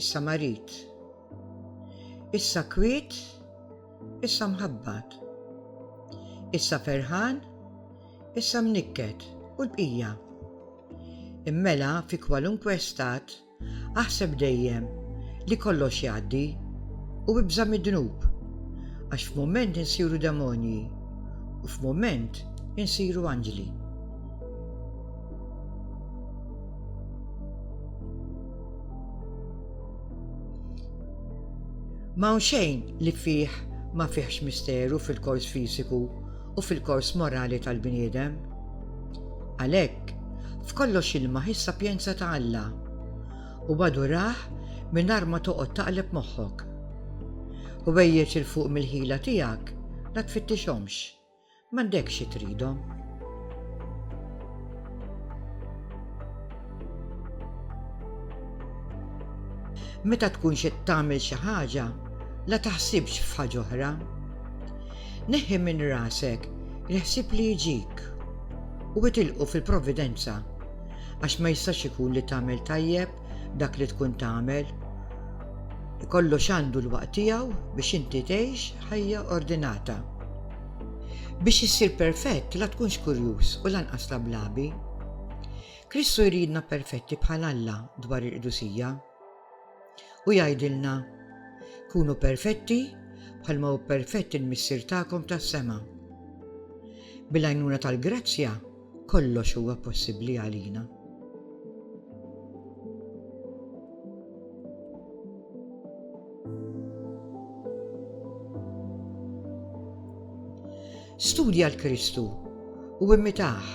issa marid, issa kwiet, issa mħabbat, issa ferħan, issa mnikket u l-bqija. Immela fi kwalunkwe stat aħseb dejjem li kollox jgħaddi u ibża' mid-dnub għax f'mument insiru demonji u f'mument insiru anġli. Ma hawn xejn li fih ma fihx misteru fil-kors fiżiku u fil-kors morali tal-bniedem. Għalhekk, f'kollox ilmah is-sapjenza ta' Alla, u adurah mingħajr ma toqgħod taqleb moħħok. Ħwejjeġ 'il fuq mill-ħila tiegħek la tfittixhomx, M'għandekx xi tridhom. Meta tkunx qed tagħmel xi ħaġa, la taħsibx f'ħaġa oħra. Neħħi minn rasek il-ħsieb li jġik u itilqu fil-providenza għax ma jistax ikun li tagħmel tajjeb dak li tkun tagħmel. Kollox għandu l-waqt tiegħu biex inti tgħix ħajja ordinata. Biex issir perfett la tkunx kurjuż u lanqas lablabi. Kristu jridna perfetti bħal Alla dwar il-qdusija. U jgħidilna, kunu perfetti bħalma hu perfett il-Missier tagħkom tas-sema. Bil-għajnuna tal-grazzja, Kollox huwa possibbli għalina. Studja l-Kristu u immitaħ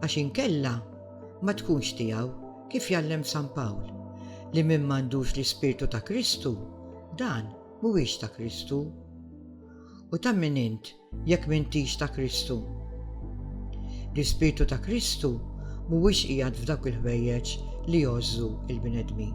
għax inkella ma tkunx tiegħu kif jallem San Pawl li min m'għandux l-ispirtu ta' Kristu dan mhuwiex ta' Kristu. U ta' min int jekk m'intix ta' Kristu. L-Ispirtu ta' Kristu mhuwiex qiegħed f'dawk il-ħwejjeġ li jgħożżu l-bnedmin.